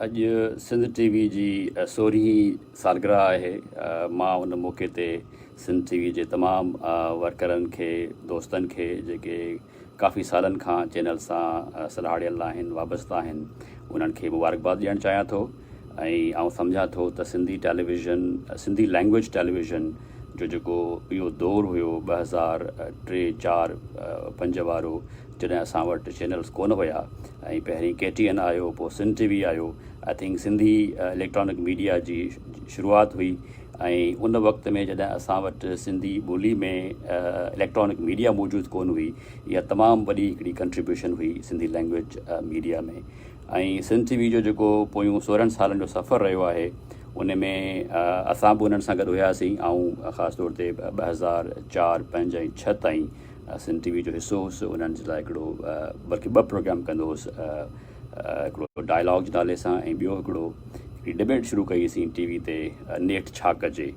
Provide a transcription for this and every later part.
اڄ Sindh T V جي سورهين سالگرهه آهي مان ان موقعي تي سنڌ ٽي وي جي تمام ورڪرن کي دوستن کي جيڪي ڪافي سالن کان چينل سان سلهاڙيل آهن وابسته آهن انهن کي مبارڪباد ڏيڻ چاهيان ٿو ۽ آئون سمجهان ٿو ته Sindhi television Sindhi language television جو جيڪو اهو دور هيو ٻه هزار ٽي چار پنج وارو جڏهن اسان وٽ چينلز ڪونه هيا ۽ پهرين ڪي ٽي اين آيو پوء سنڌ ٽي وي آيو I think Sindhi electronic media جي شروعات هئي ۽ ان وقت ۾ جڏهن اسان وٽ سنڌي ٻولي ۾ اليڪٽرانڪ ميڊيا موجود ڪونه هئي اها تمام وڏي هڪڙي ڪنٽريبيوشن هئي Sindhi language media ۾ ۽ Sindh T V جو جيڪو پويون سورهن سالن جو سفر رهيو آهي ان ۾ اسان به انهن سان گڏ هياسين آئون خاص طور تي ٻه هزار چار پنج ۽ ڇهه تائين سنڌ ٽي وي جو حصو هوس انهن جي لاء هڪڙو بلڪه ٻه پروگرام ڪندو هوس هڪڙو ڊائلاگ جي نالي سان ۽ ٻيو هڪڙو هڪڙي ڊبيٽ شروع ڪئي اسين ٽي وي تي نيٺ ڇا ڪجي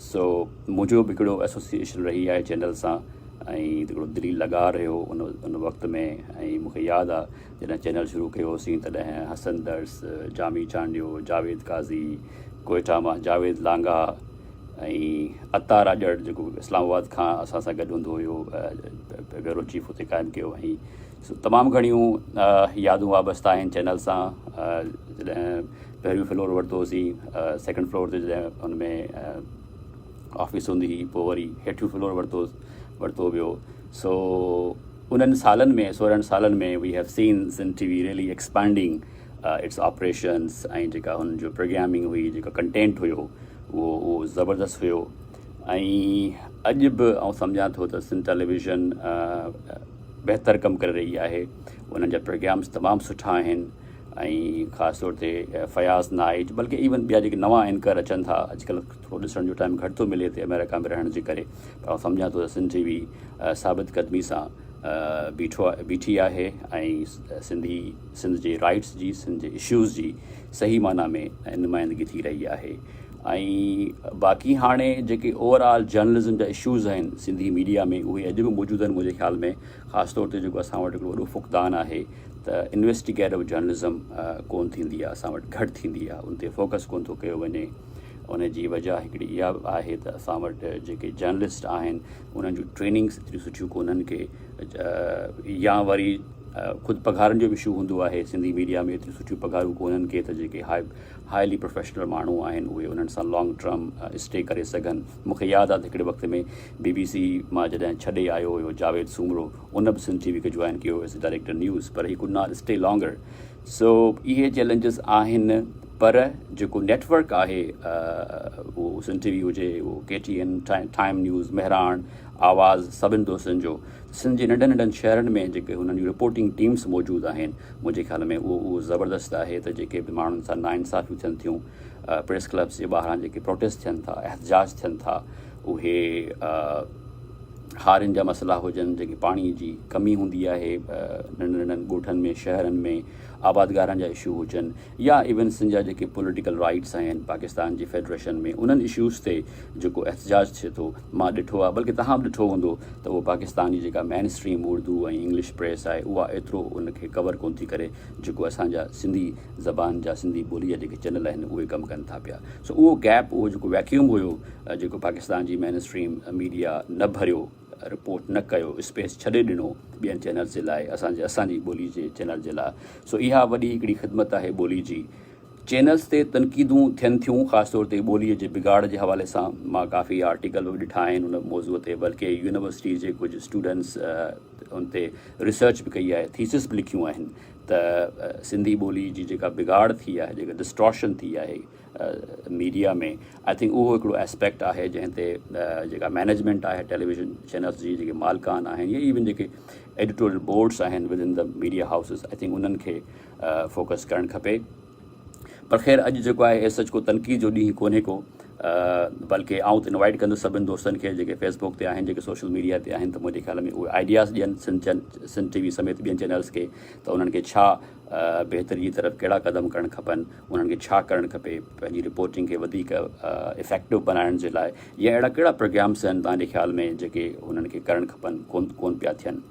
سو منهنجو به هڪڙو ايسوسيئيشن رهي آهي چينل سان ۽ هڪڙو دلي لڳاء رهيو ان ان وقت ۾ ۽ مونکي ياد آ جڏهن چينل شروع ڪيو هوسين تڏهن حسن درس جامي چانڊيو جاويد قاضي ڪوئيٽا مان جاويد لانگاهه ۽ عطا راڄڙ جيڪو اسلام آباد کان اسان سان گڏ هوندو هيو بيورو چيف اتي قائم ڪيو هئائين سو تمام گهڻيون يادون وابسته آهن چينل سان جڏهن پهريون فلور ورتو هوسين سيڪنڊ فلور تي جڏهن ان ۾ آفيس هوندي هئي پوء وري هيٺيون فلور ورتو ورتو ويو سو انهن سالن ۾ سورهن سالن ۾ we have seen Sindh T V really expanding its operations ۽ جيڪا هن جو پروگرامنگ هئي جيڪا ڪنٽينٽ هيو اهو اهو زبردست هيو ۽ اڄ به آئون سمجهان ٿو ته سنڌ ٽيليويزن بهتر ڪم ڪري رهي آهي انهن جا پروگرامس تمام سٺا آهن ۽ خاص طور تي فياض نائيٽ بلڪه ايون ٻيا جيڪي نوان اینڪر اچن ٿا اڄڪلھ ٿورو ڏسڻ جو ٽائم گھٽ ٿو ملي هتي آمريڪا ۾ رهڻ جي ڪري پر آئون سمجهان ٿو ته سنڌ ٽي وي ثابت قدمي سان بيٺو بيٺي آهي ۽ سنڌي سنڌ جي رائيٽس جي سنڌ جي اشوز جي صحيح معنيٰ ۾ نمائندگي ٿي رهي آهي ۽ باقي هاڻي جيڪي اوور آل جرنلزم جا اشوز آهن سنڌي ميڊيا ۾ اهي اڄ به موجود آهن منهنجي خيال ۾ خاص طور تي جيڪو اسان وٽ هڪڙو وڏو فقدان آهي ته انويسٽيگيٽو جرنلزم ڪون ٿيندي آهي اسان وٽ گهٽ ٿيندي آهي ان تي فوڪس ڪون ٿو ڪيو وڃي ان جي وجه هڪڙي اها آهي ته اسان وٽ جيڪي جرنلسٽ آهن انهن جون ٽريننگس ايتريون سٺيون ڪونهن ڪي يا وري خود پگهارن جو به اشو هوندو آهي سنڌي ميڊيا ۾ ايتريون سٺيون پگهارون ڪونهن ڪي ته جيڪي هاء هائلي پروفيشنل ماڻهو آهن اهي انهن سان لانگ ٽرم اسٽي ڪري سگهن مون کي ياد آهي ته هڪڙي وقت ۾ بي بي سي مان جڏهن ڇڏي آيو هيو جاويد سومرو ان به سنڌ ٽي وي کي جوائن ڪيو هيس ڊائريڪٽر نيوز پر he could not stay longer so اهي چئلينجز آهن پر جيڪو نيٽ ورڪ آهي اهو سنڌ ٽي وي هجي اهو K T N time news Mehran Awaz سڀن دوستن جو سنڌ جي ننڍن ننڍن شهرن ۾ جيڪي هنن جون رپورٽنگ ٽيمس موجود آهن منهنجي خيال ۾ اهو اهو زبردست آهي ته جيڪي به ماڻهن سان نا انصافيون ٿين ٿيون پريس ڪلبس جي ٻاهران جيڪي پروٽيسٽ ٿين ٿا احتجاج ٿين ٿا اهي هارين جا مسئلا هجن، جيڪي پاڻي جي ڪمي هوندي آهي ننڍن ننڍن ڳوٺن ۾ شهرن ۾ آبادگارن جا اشو هجن يا ايون سنڌ جا جيڪي پوليٽيڪل رائيٽس آهن پاڪستان جي فيڊريشن ۾ انهن اشوز تي جيڪو احتجاج ٿئي ٿو مان ڏٺو آهي بلڪه توهان به ڏٺو هوندو ته اهو پاڪستان جي جيڪا mainstream Urdu ۽ English press آهي اها ايترو ان کي ڪور ڪونه ٿي ڪري جيڪو اسان جا سنڌي زبان جا سنڌي ٻولي جا جيڪي چينل آهن اهي ڪم ڪن ٿا پيا سو اهو گيپ اهو جيڪو ويڪيوم هيو جيڪو پاڪستان جي مين اسٽريم ميڊيا نه ڀريو، رپورٽ نه ڪيو، اسپيس ڇڏي ڏنو ٻين چينلز جي لاء اسان جي اسان جي ٻولي جي چينل جي لاء سو اها وڏي هڪڙي خدمت آهي ٻولي جي. چينلز تي تنقيدون ٿين ٿيون خاص طور تي ٻولي جي بگاڙ جي حوالي سان مان ڪافي آرٽيڪل به ڏٺا آهن ان موضوع تي بلڪه يونيورسٽي جي ڪجهه اسٽوڊنٽس ان تي ريسرچ به ڪئي آهي ٿيسز به لکيون آهن ته سنڌي ٻولي جي جيڪا بگاڙ ٿي آهي جيڪا ڊسٽارشن ٿي آهي ميڊيا ۾ آء ٿنڪ اهو هڪڙو اسپيڪٽ آهي جنهن تي جيڪا مينيجمينٽ آهي ٽيليويزن چينلس جي جيڪي مالڪان آهن يا ايون جيڪي ايڊيٽوريل بورڊس آهن within the media houses I think انهن کي فوڪس ڪرڻ کپي پر خير اڄ جيڪو آهي اي سچ ڪو تنقيد جو ڏينهن ڪونهي ڪو بلڪه آؤں تو انوائٹ کندس سبن دوستن کي جيڪي فيس بڪ تي آهن جيڪي سوشل ميڊيا تي آهن ته منهنجي خيال ۾ اهي آئيڊياز ڏين سن چين سن ٽي وي سميت ٻين چينلس کي ته انهن کي ڇا بهتري جي طرف ڪهڙا قدم کڻڻ کپن انهن کي ڇا ڪرڻ کپي پنهنجي رپورٽنگ کي وڌيڪ افيڪٽو بنائڻ جي لاء يا اهڙا ڪهڙا پروگرامس آهن تنهنجي خيال ۾ جيڪي انهن کي ڪرڻ کپن ڪون ڪون پيا ٿين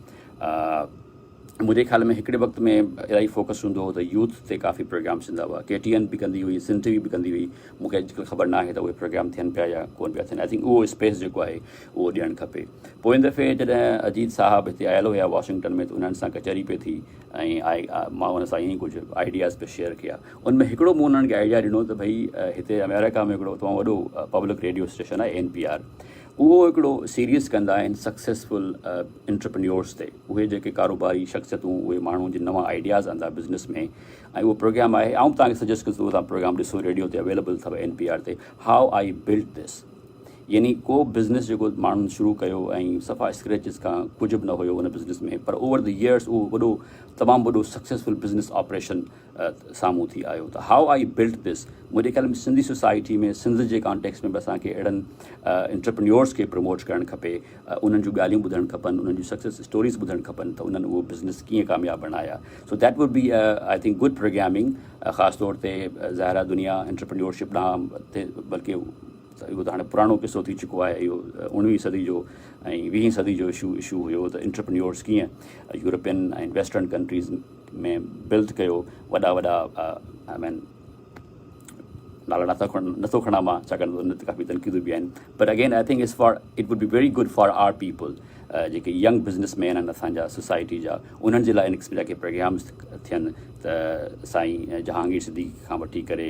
منهنجي خيال ۾ هڪڙي وقت ۾ الاهي فوڪس هوندو هو ته يوٿ تي ڪافي پروگرامس ٿيندا هئا ڪي ٽي اين به ڪندي هئي سن ٽي وي به ڪندي هئي مونکي اڄڪلهه خبر نه آهي ته اهي پروگرام ٿين پيا يا ڪون پيا ٿين آئي ٿنڪ اهو اسپيس جيڪو آهي اهو ڏيڻ کپي پوئين دفعي جڏهن اجيت صاحب هتي آيل هيا واشنگٽن ۾ ته انهن سان ڪچهري پئي ٿي ۽ مان انهن سان ائين ئي ڪجهه آئيڊياز به شيئر ڪيا. ان ۾ هڪڙو مون انهن کي آئيڊيا ڏنو ته ڀئي هتي امريڪا ۾ هڪڙو تمام وڏو پبلڪ ريڊيو اسٽيشن آهي اين پي آر اهو هڪڙو سيريز ڪندا آهن سڪسيسفل انٽرپرينيورز تي اهي جيڪي ڪاروباري شخصيتون اهي ماڻهو جن نوان آئيڊياز آندا بزنس ۾ ۽ اهو پروگرام آهي آئون به توهان کي سجيسٽ ڪندس اهو توهان پروگرام ڏسو ريڊيو تي اويليبل اٿو اين پي آر تي هاء آئي بلٽ دس يعني ڪو به بزنس جيڪو ماڻهن شروع ڪيو ۽ صفا اسڪريچز کان ڪجهه به نه هيو ان بزنس ۾ پر اوور دي ييئرس اهو وڏو تمام وڏو سڪسيسفل بزنس آپريشن سامهون ٿي آيو ته هاء آئي بلٽ ڌس منهنجي خيال ۾ سنڌي سوسائٽي ۾ سنڌ جي ڪانٽيڪس ۾ به اسان کي اهڙن انٽرپرنيورس کي پروموٽ ڪرڻ کپي انهن جون ڳالهيون ٻڌڻ کپن انهن جون سڪسيس اسٽوريز ٻڌڻ کپن ته انهن اهو بزنس ڪيئن ڪامياب بڻايا so that would be I think good programming خاص طور تي ظاهرا دنيا انٽرپرنيورشپ ڏانهن بلڪه ته اهو ته هاڻي پراڻو قصو ٿي چڪو آهي، اهو اوڻويهين صدي جو ۽ ويهين صدي جو اشو اشو هيو ته انٽرپرينيورز ڪيئن يورپين ۽ ويسٽرن ڪنٽريز ۾ بلد ڪيو وڏا وڏا آء مين نالا نٿا کڻ نٿو کڻا مان ڇاڪاڻ ته ان تي ڪافي تنقيدون به آهن but again I think as far it would be very good for our people جيڪي ينگ بزنس مين آهن اسانجا سوسائٽي جا انهن جي لاء ان قسم جا ڪي پروگرامز ٿين ته سائين جهانگير صديقي کان وٺي ڪري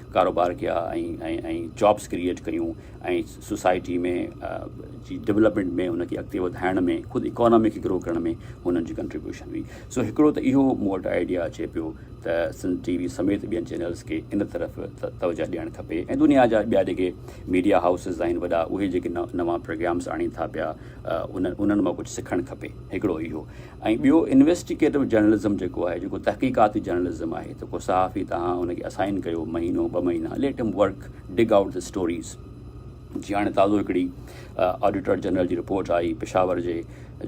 ڪاروبار ڪيا ۽ جابس ڪريئيٽ ڪيون ۽ سوسائٽي ۾ جي ڊولپمينٽ ۾ ان کي اڳتي وڌائڻ ۾ خود اڪانامي کي گرو ڪرڻ ۾ هنن جي ڪنٽريبيوشن هئي سو هڪڙو ته اهو مون وٽ آئيڊيا اچي پيو ته سنڌ ٽي وي سميت ٻين چينلس کي ان طرف توجه ڏيڻ کپي ۽ دنيا جا ٻيا جيڪي ميڊيا هائوسز آهن وڏا اهي جيڪي نوان پروگرامس آڻين ٿا پيا ان انهن مان ڪجهه سکڻ کپي هڪڙو اهو ۽ ٻيو انويسٽيگيٽو جرنلزم جيڪو آهي جيڪو تحقيقاتي جرنلزم آهي ته ڪو صحافي توهان ان کي اسائن ڪيو مهينو ٻه مهينا let him work dig out the stories جي هاڻي تازو هڪڙي آڊيٽر جنرل جي رپورٽ آئي پشاور جي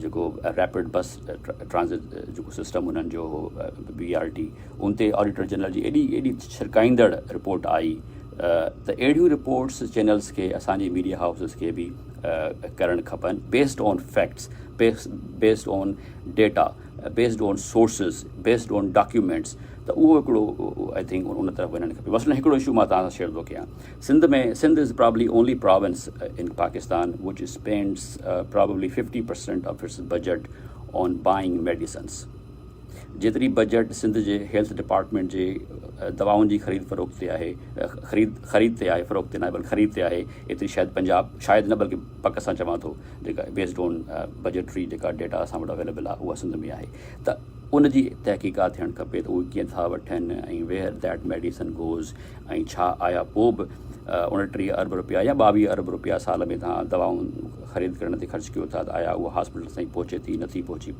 جيڪو ريپڊ بس ٽرانزٽ جيڪو سسٽم انهن جو هو بي آر ٽي ان تي آڊيٽر جنرل جي ايڏي ايڏي ڇرڪائيندڙ رپورٽ آئي ته اهڙيون رپورٽس چينلز کي اسانجي ميڊيا هائوسز کي به ڪرڻ کپن based on facts based on data, based on sources, based on documents ته اهو هڪڙو آء ٿنڪ ان طرف وڃڻ کپي مثلاً هڪڙو اشو مان توهان سان شيئر ٿو ڪيان Sindh ۾ Sindh is probably only province in Pakistan which spends probably fifty percent of its budget on buying medicines جيتري بجيٽ سنڌ جي هيلٿ ڊپارٽمينٽ جي دوائن جي خريد فروخت تي آهي خريد خريد تي آهي فروخت تي ناهي بلڪ خريد تي آهي ايتري شايد پنجاب شايد نه بلڪ پڪ سان چوان ٿو جيڪا بيسڊ آن بجيٽري جيڪا ڊيٽا اسان وٽ اويليبل آهي اها سنڌ ۾ آهي ته ان جي تحقيقات ٿيڻ کپي ته اهي ڪيئن ٿا وٺن ۽ ويئر ديٽ ميڊيسن گوز ۽ ڇا آيا پوء به اڻٽيهه ارب رپيا يا ٻاويهه ارب رپيا سال ۾ توهان دوائون خريد ڪرڻ تي خرچ ڪيو ٿا ته آيا اها هاسپيٽل تائين پهچي ٿي نٿي پهچي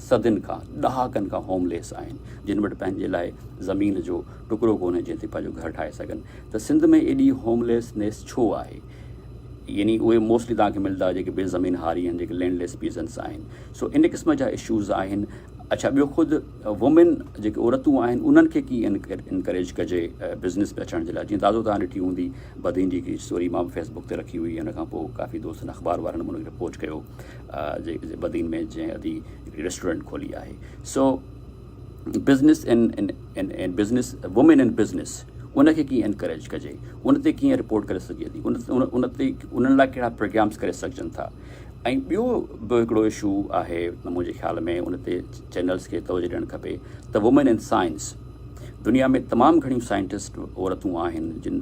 صدين کان، ڏهاڪن کان هوم ليس آهن، جن وٽ پنهنجي لاء زمين جو ٽڪرو ڪونهي جنهن تي پنهنجو گهر ٺاهي سگهن ته سنڌ ۾ ايڏي هوم ليس نيس ڇو آهي؟ يعني اهي موسٽلي توهان کي ملدا جيڪي بي زمين هاري آهن جيڪي لينڊ ليس پيزنس آهن سو ان قسم جا اشوز آهن اڇا ٻيو خود وومين جيڪي عورتون آهن انهن کي ڪي انڪريج ڪجي بزنس ۾ اچڻ جي لاء جيئن تازو توهان ڏٺي هوندي بدين جي هڪڙي اسٽوري مان به فيسبوڪ تي رکي هئي ان کان پوء ڪافي دوستن اخبار وارن به ان کي رپورٽ ڪيو بدين ۾ جنهن ادي هڪڙي ريسٽورينٽ کولي آهي so business in business women in business ان کي ڪيئن انڪريج ڪجي ان تي ڪيئن رپورٽ ڪري سگهجي ٿي ان تي انهن لاء ڪهڙا پروگرامس ڪري سگهجن ٿا ۽ ٻيو به هڪڙو اشو آهي منهنجي خيال ۾ ان تي چينلس کي توجه ڏيڻ کپي ته وومين ان سائنس دنيا ۾ تمام گهڻيون سائنٽسٽ عورتون آهن جن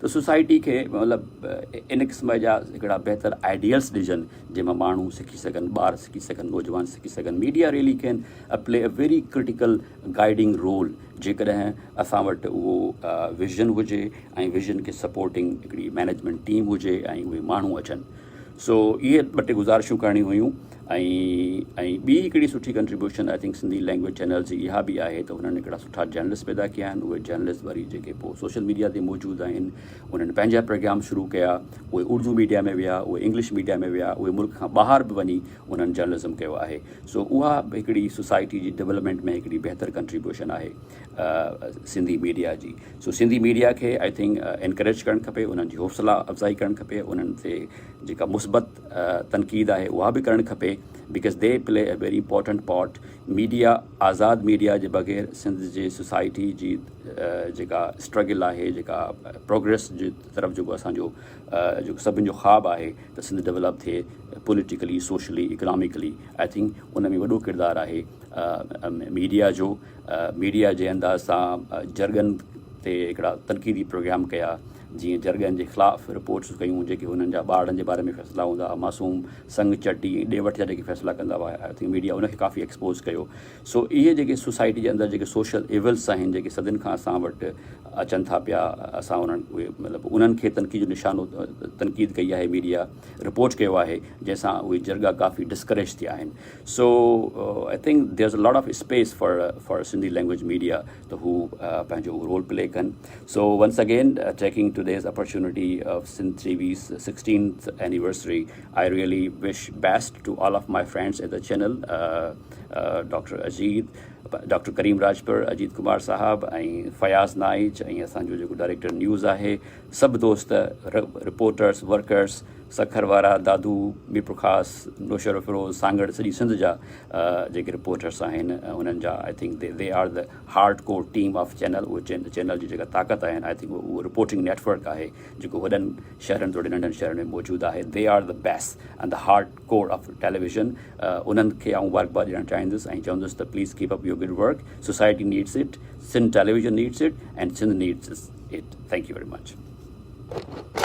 ته سوسائٽي کي مطلب ان قسم جا هڪڙا بهتر آئيڊيلس ڏجن جنهن مان ماڻهو سکي سگهن ٻار سکي سگهن نوجوان سکي سگهن media really can a play a very critical guiding role جيڪڏهن اسان وٽ اهو ويزن هجي ۽ ويزن کي سپورٽنگ هڪڙي مينيجمينٽ ٽيم هجي ۽ اهي ماڻهو اچن سو اهي ٻه ٽي گزارشون ڪرڻيون هيون ۽ ۽ ٻي هڪڙي سٺي contribution I think Sindhi language channels جي اها به آهي ته هنن هڪڙا سٺا جرنلسٽ پيدا ڪيا آهن اهي جرنلسٽ وري جيڪي پوء سوشل ميڊيا تي موجود آهن انهن پنهنجا پروگرام شروع ڪيا اهي اردو ميڊيا ۾ ويا اهي انگلش ميڊيا ۾ ويا اهي ملڪ کان ٻاهر به وڃي انهن جرنلزم ڪيو آهي سو اها به هڪڙي سوسائٽي جي ڊولپمينٽ ۾ هڪڙي بهتر ڪنٽريبيوشن آهي سنڌي ميڊيا جي سو سنڌي ميڊيا کي آء ٿنڪ انڪريج ڪرڻ کپي انهن جي حوصلا افزائي ڪرڻ کپي انهن تي جيڪا مثبت تنقيد آهي اها به ڪرڻ کپي because the play a very important part media آزاد ميڊيا جي بغير سنڌ جي سوسائٽي جي جيڪا اسٽرگل آهي جيڪا پروگريس جي طرف جيڪو اسانجو جيڪو سڀن جو خواب آهي ته سنڌ ڊيولپ ٿئي politically socially economically I think ان ۾ وڏو ڪردار آهي ميڊيا جو ميڊيا جي انداز سان جرڳن تي هڪڙا تنقيدي پروگرام ڪيا جيئن جرڳن جي خلاف رپورٽس ڪيون جيڪي هنن جا ٻارڙن جي باري ۾ فيصلا هوندا ها معصوم سنگ چٽي ۽ ڏي وٺ جا جيڪي فيصلا ڪندا هئا آئي ٿنڪ ميڊيا ان کي ڪافي ايڪسپوز ڪيو سو اهي جيڪي سوسائٽي جي اندر جيڪي سوشل ايولس آهن جيڪي صدين کان اسان وٽ اچن ٿا پيا اسان انهن اهي مطلب انهن کي تنقيد جو نشانو تنقيد ڪئي آهي ميڊيا رپورٽ ڪيو آهي جنهن سان اهي جرڳا ڪافي ڊسڪريج ٿيا آهن سو آئي think there's lot of space for for Sindhi language media ته هو پنهنجو رول پلي ڪن so once again taking today's opportunity of Sindh T V's sixteenth anniversary I really wish best to all of my friends at the channel doctor Ajit doctor Karim Rajpar Ajit Kumar Sahib ۽ Fayaz Naich ۽ اسان جو جيڪو director news آهي سڀ دوست رپورٽرس ورڪرس سکر وارا دادو ميرپورخاص نوشهروفيروز سانگهڙ سڄي سنڌ جا جيڪي رپورٽرس آهن انهن جا I think they are the hard core team of channel اهو چينل جي جيڪا طاقت آهن آئي ٿنڪ اهو رپورٽنگ نيٽورڪ آهي جيڪو وڏن شهرن توڙي ننڍن شهرن ۾ موجود آهي they are the base in the hard core of television انهن کي آئون مبارڪ باد ڏيڻ چاهيندس ۽ چوندس ته please keep up your good work society needs it Sindh television needs it and Sindh needs it thank you very much